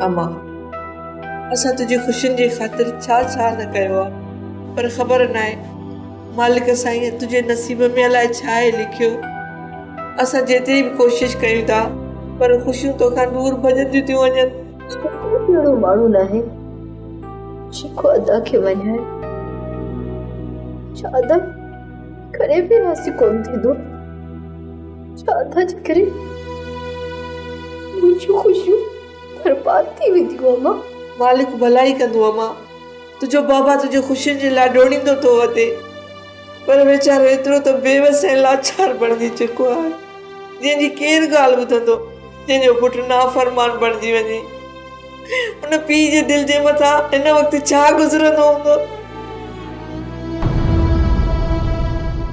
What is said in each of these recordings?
اما! اسان تنهنجي خوشين جي خاطر ڇا ڇا نه ڪيو آ، پر خبر ناهي مالڪ سائينء تنهنجي نصيب ۾ الاء ڇا آهي لکيو. اسان جيتري به ڪوشش ڪيون ٿا، پر خوشيون توکان دور ڀڄنديون ٿيون وڃن. ڪو به اهڙو ماڻهو ناهي، جيڪو ادا کي مڃائي. ڇا ادا؟ ڪڏهن به راضي ڪونه ٿيندو ڇا ٿا جي ڪري منهنجون خوشيون برباد ٿي وينديون اما مالڪ ڀلائي ڪندو اما تنهنجو بابا تنهنجو خوشين جي لاء ڊوڙيندو ٿو وتي پر ويچارو ايترو ته بيوس ۽ لاچار بڻجي چڪو آهي جنهن جي ڪير ڳالهه ٻڌندو جنهن جو پٽ نافرمان بڻجي وڃي ان پيء جي دل جي مٿان هن وقت ڇا گذرندو هوندو؟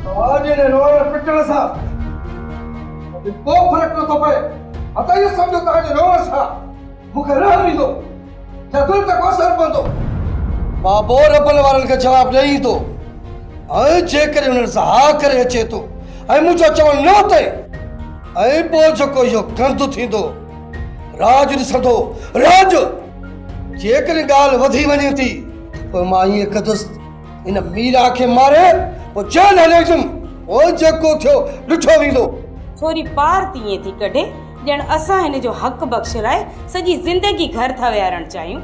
توهان جي هن روئڻ پٽڻ سان مون کي ڪو فرق نٿو پئي. مان ته اهو سمجهيو توهان جي روئڻ سان مون کي رحم ايندو يا دل تي ڪو اثر پوندو. مان پوء رٻن وارن کي جواب ڏئي ايندو ۽ جيڪڏهن انهن سان ها ڪري اچي ٿو ۽ منهنجو چوڻ نه متئي ۽ پوء جيڪو اهو گند ٿيندو. راڄ ڏسندو راڄ جيڪڏهن ڳالهه وڌي وڃي ٿي ته پوء مان ائين ڪندس ان ميرا کي ماري پوء جيل هليندم پوء جيڪو ٿيو ڏٺو ويندو ٿوري پار تيئن ٿي ڪڍي ڄڻ اسان هن جو حق بخش لاء سڄي زندگي گهر ٿا ويهارڻ چاهيون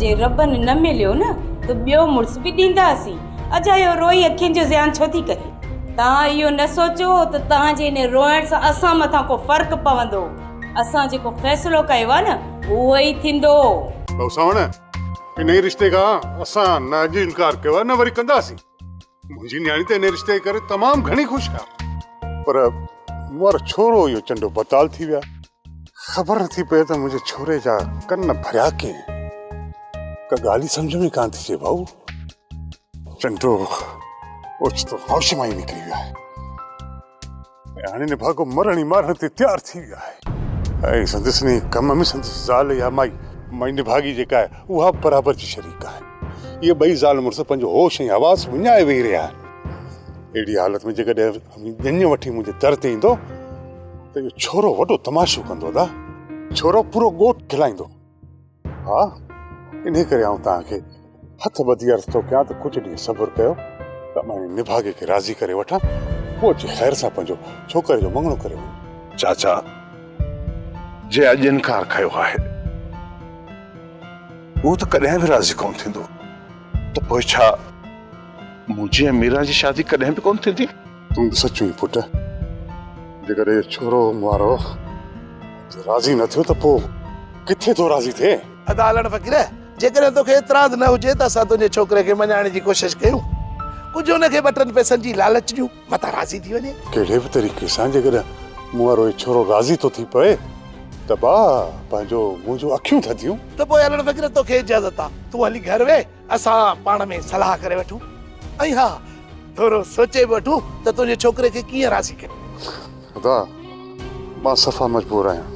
جي ربن نه مليو نه ته ٻيو مڙس به ڏينداسين. اجا اهو روئي اکين جو زيان ڇو ٿي ڪري؟ توهان اهو نه سوچو ته توهان جي ان روئڻ سان اسان مٿان ڪو فرق پوندو. اسان جيڪو فيصلو ڪيو آهي نه اهو ئي ٿيندو. ڀائو سانوڻ، انهيء رشتي کان اسان نه اڄ انڪار ڪيو آهي نه وري ڪنداسين. منهنجي نياڻي ته انهيء رشتي جي ڪري تمام گهڻي خوش آهي. پر مون وارا ڇورو اهو چنڊو بتال ٿي ويا. خبر نه ٿي پئي ته منهنجي ڇوري جا ڪن ڀريا ڪين. ڪا ڳالهه ئي سمجهه ۾ ڪانه ٿي اچي ڀائو. چنڊو اوچتو هوش مان ئي نڪري ويو آهي ۽ هاڻي نڀاڳو مرڻ ئي مارڻ تي تيار ٿي ويو آهي ۽ سندس انهيء ڪم ۾ سندس زال يا مائي مائي نڀاڳي جيڪا آهي اها به برابر جي شريڪ آهي. اهي ٻئي زال مڙس پنهنجو هوش ۽ حواس وڃائي ويهي رهيا آهن. اهڙيء حالت ۾ جيڪڏهن اوهين ڄڃ وٺي منهنجي در تي ايندو. اهو ڇورو وڏو تماشو ڪندو ادا ڇورو پورو ڳوٺ کلائيندو ها انهي ڪري آئون توهان کي هٿ ٻڌي عرض ٿو ڪيان ته ڪجهه ڏينهن صبر ڪيو ته مان نڀاڳي کي راضي ڪري وٺان پوء اچي خير سان پنهنجو ڇوڪري جو مڱڻو ڪري وڃ چاچا جي اڄ انڪار ڪيو آهي هو ته ڪڏهن به راضي ڪون ٿيندو ته پوء ڇا منهنجي ميرا جي شادي ڪڏهن به ڪون ٿيندي تون به سچو ئي پٽ جيڪڏهن اهو ڇورو مارو راضي نه ٿيو ته پوء ڪٿي ٿو راضي ٿئي. ادا علڻ فقير جيڪڏهن توکي اعتراض نه هجي ته اسان تنهنجي ڇوڪري کي مڃائڻ جي ڪوشش ڪيون ڪجهه ان کي ٻه ٽن پئسن جي لالچ ڏيون متان راضي ٿي وڃي. ڪهڙي به طريقي سان جيڪڏهن مون وارو هي ڇورو راضي ٿو ٿي پئي ته با پنهنجو منهنجون اکيون ٿڌيون. ته پوء علڻ فقير توکي اجازت آ تون هلي گهر ويهه. اسان پاڻ ۾ صلاح ڪري وٺون ۽ ها ٿورو سوچي به وٺون ته تنهنجي ڇوڪري کي ڪيئن راضي ڪيون. خدا مان صفا مجبور آهيان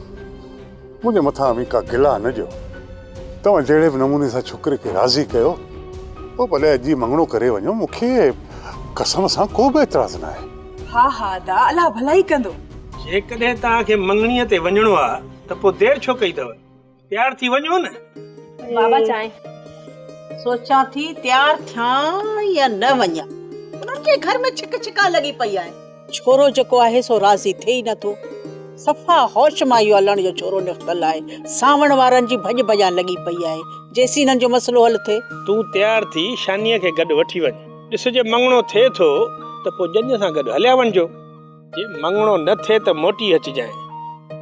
منهنجي مٿان اوهين ڪا گلا نه ڏيو توهان جهڙي به نموني سان ڇوڪري کي راضي ڪيو پوء ڀلي اڄ ئي مڱڻو ڪري وڃو مون کي قسم سان ڪو به اعتراض نه آهي. ها ها ادا الله ڀلائي ڪندو. جيڪڏهن توهان کي مڱڻي تي وڃڻو آهي ته پوء دير ڇو ڪئي اٿو تيار ٿي وڃون نه بابا چانهه سوچان ٿي تيار ٿيان يا نه وڃان انهن کي گهر ۾ ڇڪ ڇڪا لڳي پئي آهي ڇورو جيڪو آهي سو راضي ٿئي ئي نٿو صفا هوش مان اهو الڻ جو ڇورو نڪتل آهي سانوڻ وارن جي ڀڄ ڀڄان لڳي پئي آهي جيسين هنن جو مسئلو حل ٿئي. تون تيار ٿي شانيء کي گڏ وٺي وڃ ڏس جي مڱڻو ٿئي ٿو ته پوء ڄڃ سان گڏ هليا وڃجو. جي مڱڻو نه ٿئي ته موٽي اچجانء،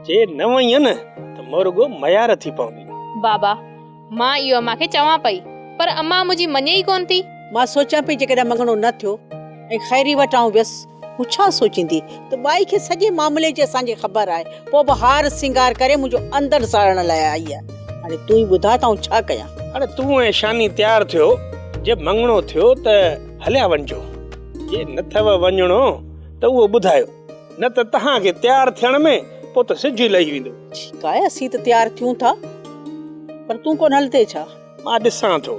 جي نه وئينء ته مون رڳو ميار ٿي پوندين. بابا، مان اهو امان کي چوان پئي، پر امان منهنجي مڃي ئي ڪونه ٿي. مان سوچيان پئي جيڪڏهن مڱڻو نه ٿيو ۽ خيري وٽ آئون ويس، هو ڇا سوچيندي ته ٻائي کي سڄي معاملي جي اسان کي خبر آهي، پوء به هار سينگار ڪري منهنجو اندر ساڙڻ لاء آئي آهي. هاڻي تون ئي ٻڌاء ته آئون ڇا ڪيان؟ هاڻي تون ۽ شاني تيار ٿيو، جي مڱڻو ٿيو ته هليا وڃجو، جي نه ٿئو وڃڻو ته اهو ٻڌايو، نه ته توهان کي تيار ٿيڻ ۾ ڪو ته سج ئي لهي ويندو. ٺيڪ آهي، اسين ته تيار ٿيون ٿا، پر تون ڪونه هلندين ڇا؟ مان ڏسان ٿو،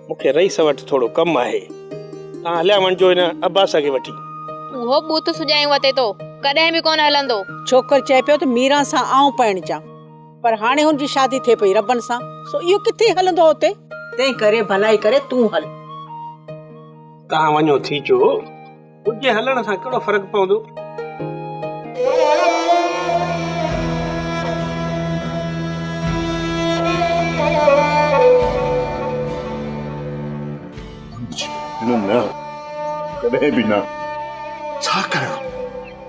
مون کي رئيس وٽ ٿورو ڪم آهي، توهان هليا وڃجو هن عباس کي وٺي. اهو بت سجايون وتي تو ڪڏهن به ڪونه هلندو. ڇوڪر چئي پيو ته ميران سان آئون پرڻجان، پر هاڻي هن جي شادي ٿئي پئي ربن سان، سو اهو ڪٿي هلندو اتي. تنهن ڪري ڀلائي ڪري تون هل. تهان وڃو ٿي چو ڪجهي هلڻ سان ڪهڙو فرق پوندو. نه نه ڪڏهن به نه. ڇا ڪريان؟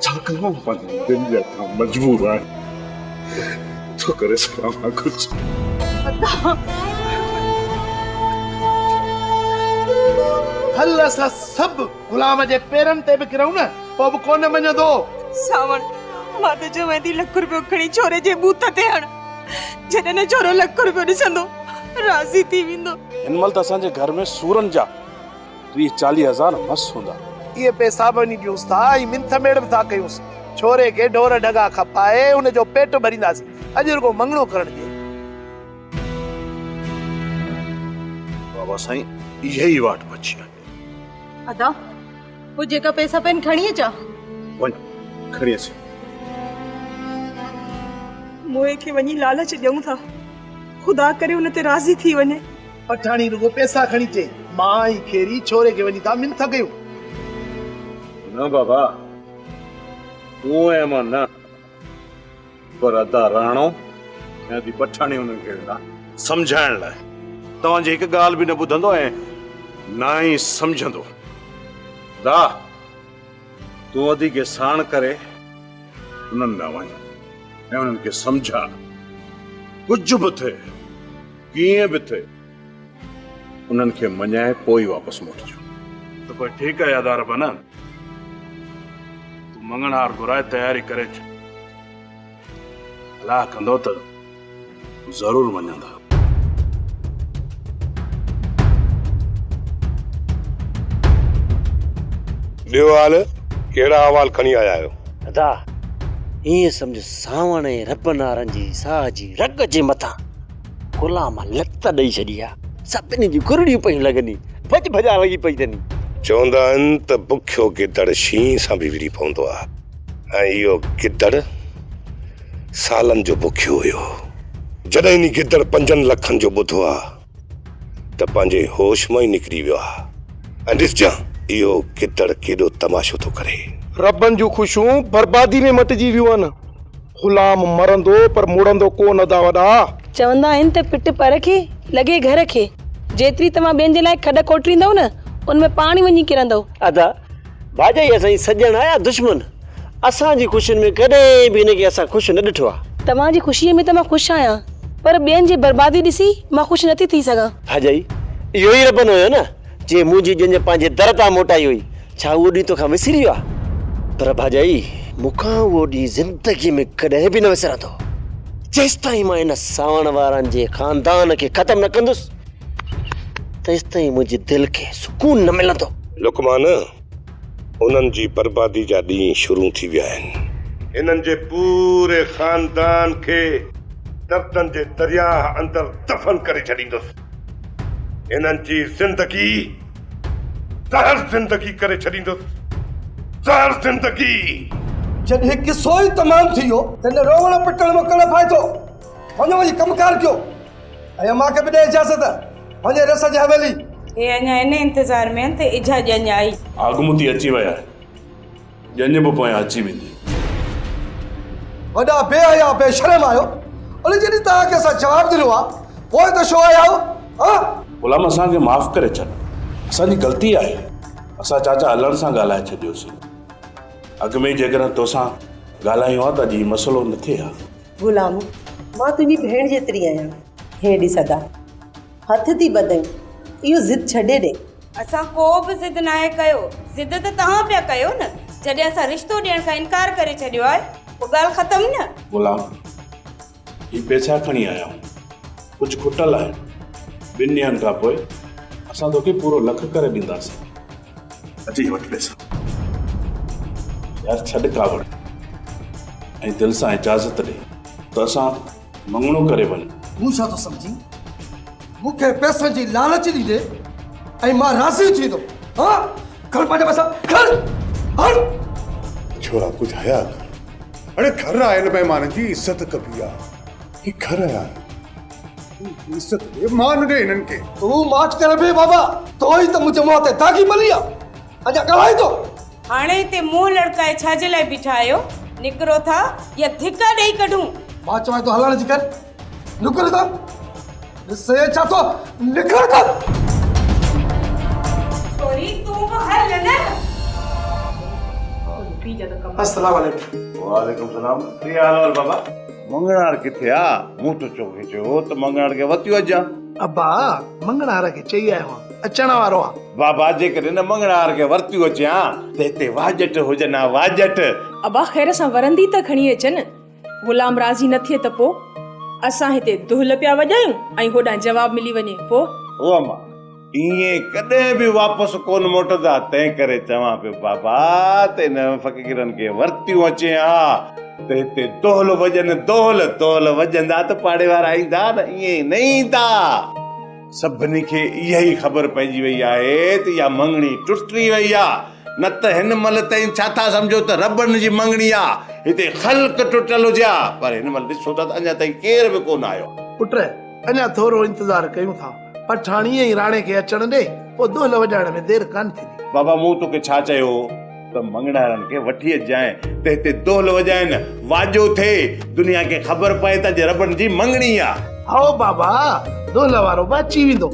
ڇاڪاڻ پنهنجي دل جا ٿا مجبور آهن ڇو ڪري سگهان ها ڪجهه هل اسان سڀ غلام جي پيرن تي به ڪرون نه پوء به ڪونه مڃندو ساوڻ مان ته چوين ٿي لک روپيو کڻي ڇوري جي بوت تي هڻ جڏهن نه ڇورو لک روپيو ڏسندو راضي ٿي ويندو هن مهل ته اسان جي گهر ۾ سورن جا ٽيهه چاليهه هزار مس هوندا. اهي پئسا به وڃي ڏيونس ٿا ۽ منٿ ميڙ به ٿا ڪيونس. ڇوري کي ڍور ڍڳا کپائي ان جو پيٽ ڀرينداسين. اڄ رڳو مڱڻو ڪرڻ ڏي. بابا سائين اها ئي واٽ بچي آهي. ادا هو جيڪا پئسا پئن کڻي اچان. وڃ کڻي اچ. موئي کي وڃي لالچ ڏيون ٿا. خدا ڪري ان تي راضي ٿي وڃي. پٺاڻي رڳو پئسا کڻي چئي، ماء ۽ کيري ڇوري کي وڃي ٿا منٿ ڪيون. نه بابا، تون ۽ مان نه، پر ادا راڻو ۽ ادي پٺاڻي انهن کي ويندا سمجهائڻ لاء. توهان جي هڪ ڳالهه به نه ٻڌندو ۽ نه ئي سمجهندو. ادا، تون ادي کي ساڻ ڪري انهن ڏانهن وڃ ۽ انهن کي سمجهاء. ڪجهه به ٿئي. ڪيئن به ٿئي انهن کي مڃائي پوء ئي واپس موٽجو. ته پوء ٺيڪ آهي ادا ربنا، تون مڱڻهار گهرائي تياري ڪري اچ. صلاح ڪندو ته ضرور مڃيندا. ٻيو حال، ڪهڙا احوال کڻي آيا آهيو؟ ادا، ائين سمجهه سانوڻ ۽ ربنا رنجي ساهه جي رڳ جي مٿان غلام لت ڏئي ڇڏي آ، سڀني جون ڪرڙيون پيون لڳني، ڀڄ ڀڄان لڳي پئي تني. چوندا آهن ته بکيو گدڙ شينهن سان به وڙهي پوندو آ ۽ اهو گدڙ سالن جو بکيو هيو. جڏهن انهي گدڙ پنجن لکن جو ٻڌو آ ته پنهنجي هوش مان ئي نڪري ويو آ ۽ ڏسجان اهو گدڙ ڪيڏو تماشو ٿو ڪري. ربن جون خوشيون بربادي ۾ مٽجي ويون آهن. غلام مرندو پر مڙندو ڪو نه ادا وڏا. چوندا آهن ته پٽ پر کي، لڳي گهر کي. جيتري توهان ٻين جي لاء کڏ کوٽريندؤ نه، ان ۾ پاڻ وڃي ڪرندؤ. ادا ڀاڄائي اسان جي سڄڻ آ يا دشمن، اسان جي خوشين ۾ ڪڏهن به هن کي اسان خوش نه ڏٺو آ. توهان جي خوشيء ۾ ته مان خوش آهيان، پر ٻين جي بربادي ڏسي مان خوش نٿي ٿي سگهان. ڀاڄائي اهو ئي ربن هيو نه، جنهن منهنجي ڄڃ پنهنجي در تان موٽائي هئي، ڇا اهو ڏينهن توکان وسري ويو آهي؟ پر ڀاڄائي، مون کان اهو ڏينهن زندگيء ۾ ڪڏهن به نه وسرندو. جيستائين مان ان ساوڻ وارن جي خاندان کي ختم نه ڪندس، تيستائين منهنجي دل کي سڪون نه ملندو. لقمان، انهن جي بربادي جا ڏينهن شروع ٿي ويا آهن. هنن جي پوري خاندان کي دردن جي درياهه اندر دفن ڪري ڇڏيندس. هنن جي زندگي. زهر زندگي ڪري ڇڏيندس، زهر زندگي! جڏهن هي قصو ئي تمام ٿي ويو، تڏهن روئڻ پٽڻ مان ڪهڙو فائدو؟ وڃو وڃي ڪم ڪار ڪيو ۽ امان کي به ڏي اجازت، وڃي رس جي حويلي. هي اڃا ان انتظار ۾ آهن ته اجها ڄڃ آئي. آڳمتي اچي وئي آهي. ڄڃ به پويان اچي ويندي. وڏا بي حيا بي شرم آهيو اڙي جڏهن توهان کي اسان جواب ڏنو آ پوء ته شو آيا آهيو ها. غلام اسان کي معاف ڪري ڇڏ اسان جي غلطي آهي اسان چاچا هلڻ سان ڳالهائي ڇڏيوسين اڳ ۾ ئي جيڪڏهن توسان ڳالهايون ها ته اڄ هي مسئلو نه ٿئي ها. غلام مان تنهنجي ڀيڻ جيتري آهيان. هي ڏس ادا. هٿ ٿي ٻڌين، اهو ضد ڇڏي ڏي. اسان ڪو به ضد ناهي ڪيو. ضد ته توهان پيا ڪيو نه. جڏهن اسان رشتو ڏيڻ کان انڪار ڪري ڇڏيو آهي، پوء ڳالهه ختم نه. غلام، هي پئسا کڻي آيا آهيون. ڪجهه کٽل آهن. ٻن ڏينهن کان پوء اسان توکي پورو لک ڪري ڏينداسين. اچي وٺ پئسا. يار ڇڏ ڪاوڙ ۽ دل سان اجازت ڏي ته اسان. مڱڻو ڪري وڃ. مون ڇا ٿو سمجهين؟ مون کي پئسن جي لالچ ڏيندين ۽ مان راضي ٿيندم؟ ها؟ کڻ پنهنجا پئسا، کڻ! هڻ! ڇورا ڪجهه حياء ڪر. اڙي گهر آيل مهمانن جي عزت ڪبي آ. هي گهر آيا آهن. تون عزت ڏي، مان نه ڏي هنن کي. تون ماٺ ڪر بي بابا. تو ئي ته منهنجي منهن تي داغي ملي آ. ادا ڳالهائي ٿو. هاڻي هتي منهن لڙڪائي ڇا جي لاء بيٺا آهيو؟ نڪرو ٿا يا ڌڪا ڏيئي ڪڍون؟ مان چوان ٿو هلڻ جي ڪر. نڪر ٿا. ڏس ڇا ٿو نڪر ٿا. السلام عليڪم وعليڪم السلام ڪي حال احوال بابا مڱڻهار ڪٿي آ مون ته توکي چيو هو ته مڱڻهار کي وتيو اچجان ابا مڱڻهار کي چئي آيو آهيان اچڻ وارو آ. بابا جيڪڏهن هن مڱڻهار کي ورتيون اچي ها ته هتي واجٽ هجن ها واجٽ. ابا خير سان ورندي ته کڻي اچن. غلام راضي نه ٿئي ته پو؟ اسان هتي دهل پيا وڄايون ۽ هوڏانهن جواب ملي وڃي پو؟ هو اما ائين ڪڏهن به واپس ڪونه موٽندا تنهن ڪري چوان پيو بابا ته انهن فقيرن کي ورتيون اچي ها ته هتي دهل وڄن دهل دهل وڄندا ته پاڙي وارا ايندا نه ائين نه ايندا. سڀني کي اها ئي خبر پئجي وئي آهي ته اها مڱڻي ٽٽي وئي آهي، نه ته هن مهل تائين ڇا ٿا سمجهو ته رٻن جي مڱڻي آهي، هتي خلق ٽٽل هجي ها، پر هن مهل ڏسو ٿا ته اڃا تائين ڪير به ڪونه آيو آهي. پٽ، اڃا ٿورو انتظار ڪيون ٿا، پٺاڻيء ۽ راڻي کي اچڻ ڏي، پوء دهل وڄائڻ ۾ دير ڪانه ٿيندي. بابا، مون توکي ڇا چيو هو؟ ته مڱڻهارن کي وٺي اچجانء ته هتي دهل وڄائين، واڄو ٿئي، دنيا کي خبر پئي ته اڄ رٻن جي مڱڻي آ. هو بابا، دهل وارو به اچي ويندو.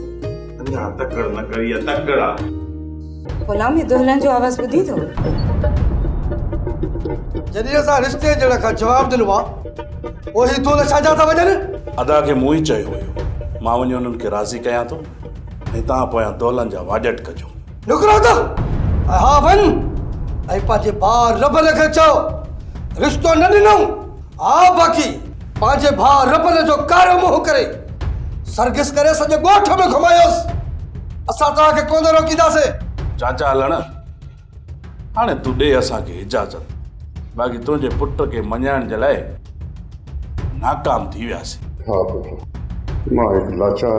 اڃا تڪڙ نه ڪر، اها تڪڙ آ. غلام، هي دهلن جو آواز ٻڌين ٿو؟ جڏهن اسان رشتي جهڙن کان جواب ڏنو آ، پوء هي دهل ڇا جا ٿا وڄن؟ ادا کي مون ئي چيو هيو، مان وڃي انهن کي راضي ڪيان ٿو ۽ توهان پويان دهلن جا واڄٽ ڪجو. نگران ته اها وڃ ۽ پنهنجي ڀاء ربل کي چئو رشتو نه ڏنئون ها باقي پنهنجي ڀاء ربل جو ڪارو منهن ڪري سرگس ڪري سڄي ڳوٺ ۾ گهمايوس اسان توهان کي ڪونه روڪينداسين چاچا هلڻ هاڻي تون ڏي اسان کي اجازت باقي تنهنجي پٽ کي مڃائڻ جي لاء ناڪام ٿي وياسين ها پٽ مان هڪ لاچار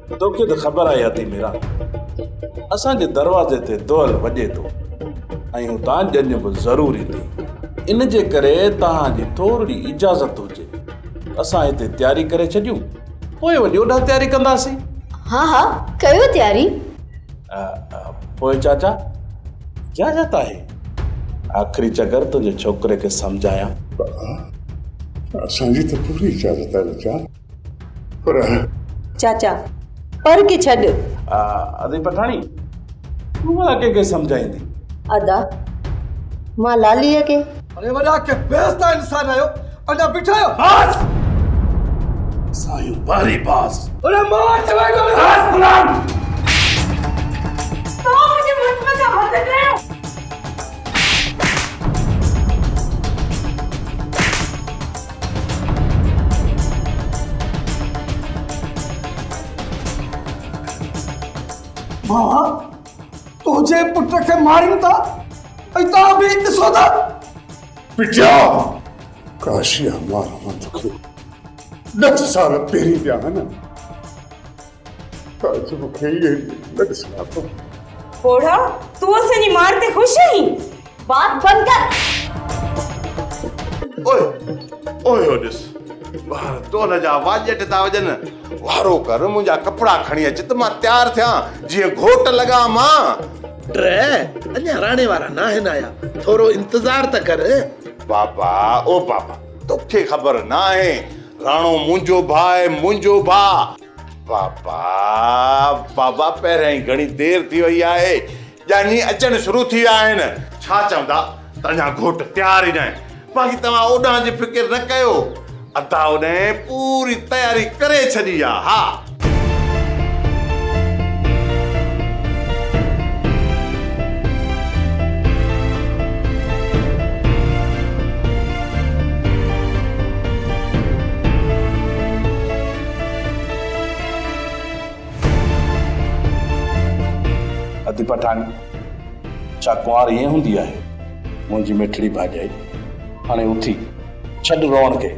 توکي ته خبر آهي هتي ميران اسان جي دروازي تي دؤل وڄي ٿو ۽ اتان ڄڃ به ضرور ايندي ان جي ڪري توهان جي ٿورڙي اجازت هجي ته اسان هتي تياري ڪري ڇڏيون پوء وڃي اوڏانهن تياري ڪنداسين. ها ها ڪيو تياري. پوء چاچا اجازت آهي آخري چڪر تنهنجي ڇوڪري کي سمجهايان. اسان جي ته پوري اجازت آهي ٻچا. پر. چاچا، پر کي ڇڏ. ادي پٺاڻي، تون ڀلا ڪنهن کي سمجهائيندين؟ ادا، مان لاليء کي. اري وڏا ڪي بيحسدا انسان آهيو، اڃا بيٺا آهيو؟ بس! سايون ٻاري باس. اري مار چوين ٿو نه. بس غلام! ڇو منهنجي مڙس مٿان هٿ ڪيو؟ ماء تنهنجي پٽ کي مارين ٿا ۽ توهان به ڏسو ٿا بيٽيا ڪاشي ماران توکي ڏھ سال پهرين ڏيا هن تعجب کي ئي نه ڏسان ٿو. پوڙها، تون اسان جي مار تي خوش آهين؟ بات بند ڪر. اوء اوء هو ڏس ٻاهر ٽول جا واڄٽ ٿا وڄن. وارو ڪر منهنجا ڪپڙا کڻي اچ ته مان تيار ٿيان جيئن گهوٽ لڳان مان. ٽه، اڃا راڻي وارا ناهن آيا ٿورو انتظار ته ڪر. بابا، او بابا توکي خبر ناهي راڻو منهنجو ڀاء منهنجو ڀاء. بابا بابا پهريان ئي گهڻي دير ٿي وئي آهي ڄاڃي اچڻ شروع ٿي ويا آهن. ڇا چوندا ته اڃا گهوٽ تيار ئي ناهي باقي توهان اوڏانهن جي فڪر نه ڪيو ادا اوڏانهن پوري تياري ڪري ڇڏي آ ها. ادي پٺاڻ ڇا ڪنوار ائين هوندي آهي منهنجي مٺڙي ڀاڄائي هاڻي اٿي ڇڏ روئڻ کي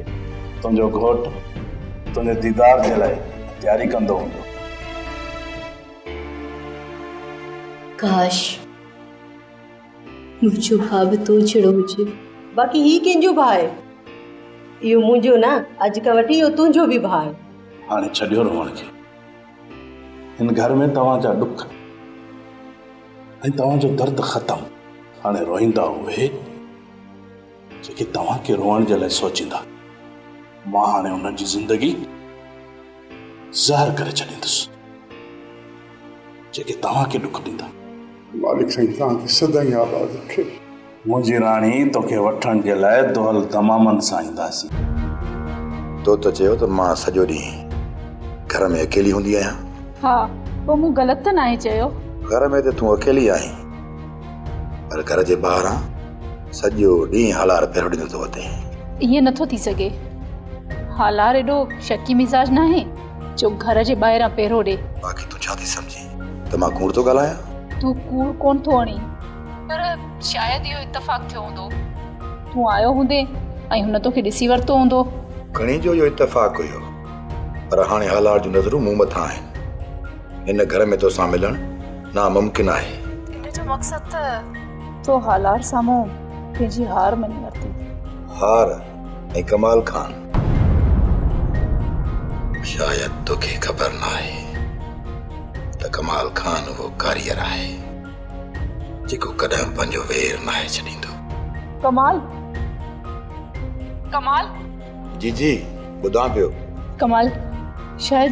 تنهنجو گهوٽ تنهنجي ديدار جي لاء تياري ڪندو هوندو. ڪاش! منهنجو ڀاء به تو جهڙو هجي. باقي هي ڪنهن جو ڀاء آهي؟ اهو منهنجو نه، اڄ کان وٺي اهو تنهنجو به ڀاء آهي. هاڻي ڇڏيو روئڻ کي. هن گهر ۾ توهان جا ڏک ۽ توهان جو درد ختم. هاڻي روئيندا اهي، جيڪي توهان کي روئڻ جي لاء سوچيندا. مان هاڻي انهن جي زندگي زهر ڪري ڇڏيندس. جيڪي توهان کي ڏک ڏيندا. مالڪ سائين توهان کي سدائين آباد رکي. منهنجي راڻي توکي وٺڻ جي لاء دهل دمامن سان اينداسين. تو ته چيو ته مان سڄو ڏينهن گهر ۾ اڪيلي هوندي آهيان. ها پوء مون غلط ته ناهي چيو. گهر ۾ ته تون اڪيلي آهين پر گهر جي ٻاهران سڄو ڏينهن هالار پهرو ڏيندو ٿو وتين. ائين نٿو ٿي سگهي. هالار ايڏو شڪي مزاج ناهي. جو گهر جي ٻاهران پهرو ڏي. باقي تون ڇا ٿي سمجهين ته مان ڪوڙ ٿو ڳالهايان؟ تون ڪوڙ ڪونه ٿو اڻين. پر شايد اهو اتفاق ٿيو هوندو. تون آيو هوندين ۽ هن توکي ڏسي ورتو هوندو. کڻي جو اهو اتفاق هيو. پر هاڻي هالار جون نظرون مون مٿان آهن. هن گهر ۾ توسان ملڻ ناممڪن آهي. ان جو مقصد ته تو هالار سامهون پنهنجي هار مڃي ورتي. هار؟ ۽ ڪمال خان شايد توکي خبر ناهي ته ڪمال خان اهو ڪاريئر آهي جيڪو ڪڏهن پنهنجو وير ناهي ڇڏيندو. ڪمال ڪمال. جي جي ٻڌان پيو. ڪمال شايد.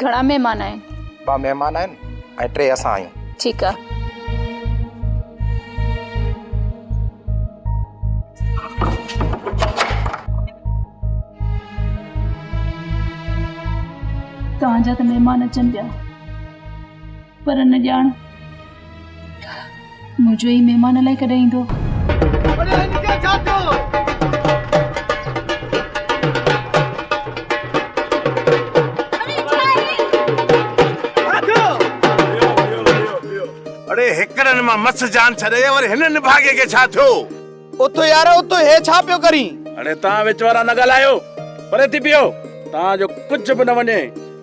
گهڻا مهمان آهن؟ ٻه مهمان آهن ۽ ٽي اسان آهيون. ٺيڪ آ. توهان جا ته مهمان اچن پيا. پر نه ڄاڻ منهنجو هي مهمان الائي ڪڏهن ايندو. اڙي هن کي ڇا ٿيو؟ اڙي هيڪرن مان مس جان ڇڏي وري هن نڀاڳي کي ڇا ٿيو؟ اوتو يار اوتو هي ڇا پيو ڪرين؟ اڙي توهان وچ وارا نه ڳالهايو پري ٿي بيهو توهان جو ڪجهه به نه وڃي.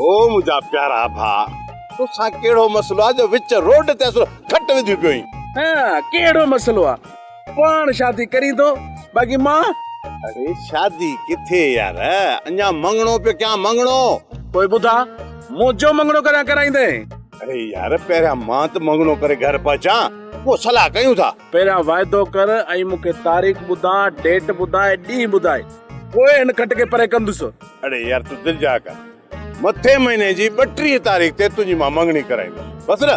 او منهنجا پيارا ڀاء توسان ڪهڙو مسئلو آهي جو وچ روڊ تي اصل کٽ وڌيون پيو آهين. ها ڪهڙو مسئلو آ پاڻ شادي ڪرين ٿو باقي مان. اڙي شادي ڪٿي يار اڃا مڱڻو پيو ڪيان مڱڻو. پوء ٻڌاء منهنجو مڱڻو ڪڏهن ڪرائيندين. اڙي يار پهريان مان ته مڱڻو ڪري گهر پهچان پوء صلاح ڪيون ٿا. پهريان واعدو ڪر ۽ مون کي تاريخ ٻڌاء، ڊيٽ ٻڌاء، ڏينهن ٻڌاء، پوء هن کٽ کي پري ڪندس. اڙي يار تون دل جاء ڪر، مٿين مهيني جي ٻٽيهين تاريخ تي تنهنجي مان مڱڻي ڪرائيندس، بس نه!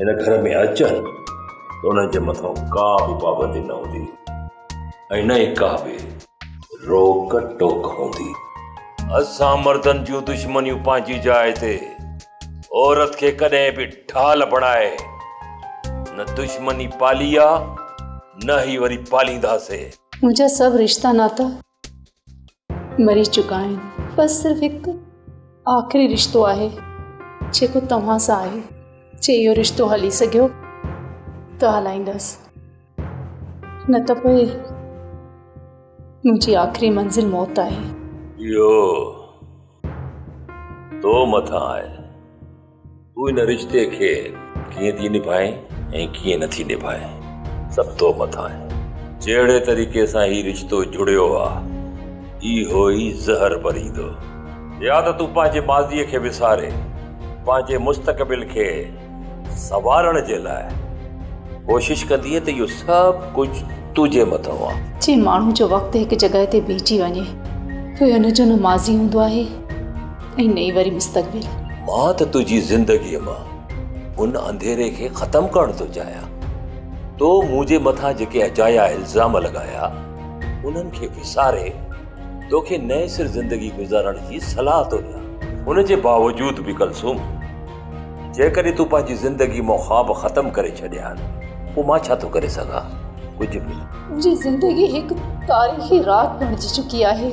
هن گهر ۾ اچن ته انهن جي مٿان ڪا به پابندي نه هوندي ۽ نه ئي ڪا به روڪ ٽوڪ هوندي اسان مردن جون دشمنيون پنهنجي جاء تي عورت کي ڪڏهن به ڍال بڻائي نه دشمني پالي آ نه هي وري پالينداسي. منهنجا سڀ رشتا ناتا مري چڪا آهن بس صرف هڪ آخري رشتو آهي جيڪو توهان سان آهي جي اهو رشتو هلي سگهيو ته هلائيندس نه ته پوء منهنجي آخري منزل موت آهي اهو تو مٿان آهي تون ان رشتي کي ڪيئن ٿي نڀائين ۽ ڪيئن نه ٿي نڀائين سڀ تو مٿان آهي جهڙي طريقي سان هي رشتو جڙيو آهي اهو ئي زهر ڀريندو يا ته تون پنهنجي ماضي کي وساري پنهنجي مستقبل کي سنوارڻ جي لاء ڪوشش ڪندي ته اهو سڀ ڪجهه تنهنجي مٿان آهي جي ماڻهو جو وقت هڪ جڳهه تي بيهجي وڃي ته ان جو نه ماضي هوندو آهي ۽ نئين وري مستقبل. مان ته تنهنجي زندگيء مان ان انڌيري کي ختم ڪرڻ ٿو چاهيان. تو منهنجي مٿان جيڪي اجايا الزام لڳايا، انهن کي وساري توکي نئين سر زندگي گذارڻ جي صلاح ٿو ڏيان. ان جي باوجود به ڪلثوم، جيڪڏهن تون پنهنجي زندگيء مان خواب ختم ڪري ڇڏيا آهن، پوء مان ڇا ٿو ڪري سگهان؟ ڪجهه به نه. منهنجي زندگي هڪ تاريخي رات بڻجي چڪي آهي.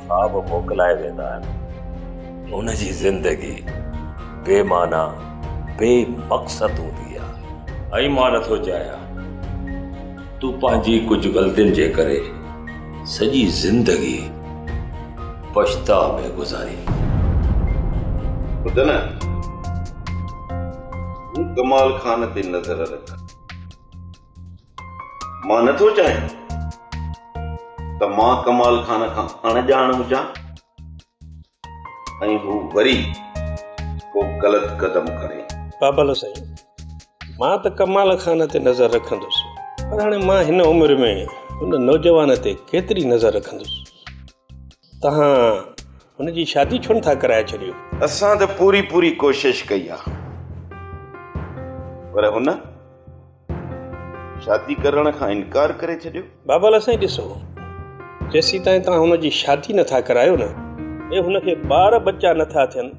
خواب موڪلائي ويندا آهن. هن جي زندگي بي معنيٰ، بي مقصد هوندي آهي. ۽ مان نه ٿو چاهيان تون پنهنجي ڪجهه غلطين جي ڪري سڄي زندگي پڇتاء ۾ گذارين. ٻڌ نه، تون ڪمال خان تي نظر رک. مان نه ٿو چاهيان ته مان ڪمال خان کان اڻڄاڻ هجان ۽ هو وري ڪو غلط قدم کڻي بابل سائين مان ته ڪمال خان تي نظر رکندس پر هاڻي مان هن عمر ۾ هن نوجوان تي ڪيتري نظر رکندس توهان هن جي شادي ڇو نٿا ڪرائي ڇڏيو؟ اسان ته پوري پوري ڪوشش ڪئي آ پر هن شادي ڪرڻ کان انڪار ڪري ڇڏيو. بابا لالا سائين ڏسو جيسيتائين توهان هن جي شادي نٿا ڪرايو نه ۽ هن کي ٻار ٻچا نٿا ٿين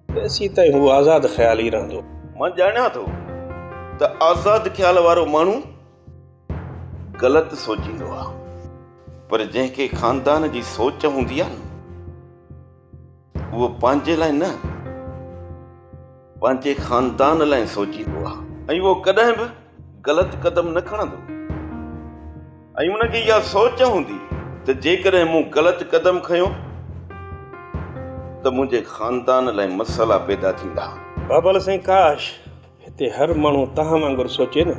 تيسيتائين هو آزاد خيال ئي رهندو. مان ڄاڻيان ٿو ته آزاد خيال وارو ماڻهو غلط سوچيندو آ پر جنهن کي خاندان جي سوچ هوندي آ نه اهو پنهنجي لاء نه پنهنجي خاندان لاء سوچيندو آ ۽ اهو ڪڏهن به غلط قدم نه کڻندو ۽ ان کي اها سوچ هوندي ته جيڪڏهن مون غلط قدم کنيو ته منهنجي خاندان لاء مسئلا پيدا ٿيندا بابل سائين ڪاش هتي هر ماڻهو توهان وانگر سوچي نه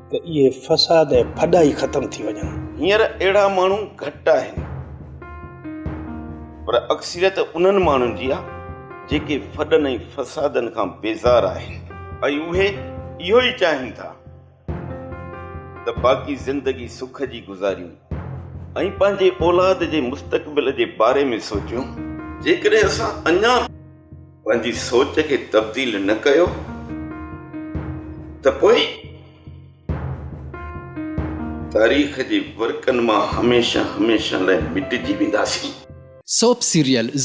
ته اهي فساد ۽ ڦڏا ئي ختم ٿي وڃن. هينئر اهڙا ماڻهو گهٽ آهن پر اڪثريت انهن ماڻهن جي آهي جيڪي ڦڏن ۽ فسادن کان بيزار آهن ۽ اهي اهو ئي چاهين ٿا. ته باقي زندگي سک جي گذاريون ۽ پنهنجي اولاد جي مستقبل جي باري ۾ سوچيون. جيڪڏهن اسان اڃا به پنهنجي سوچ کي تبديل نه ڪيو ته پوء تاريخ جي ورقن مان هميشه هميشه لاء مٽجي وينداسين. Soap serial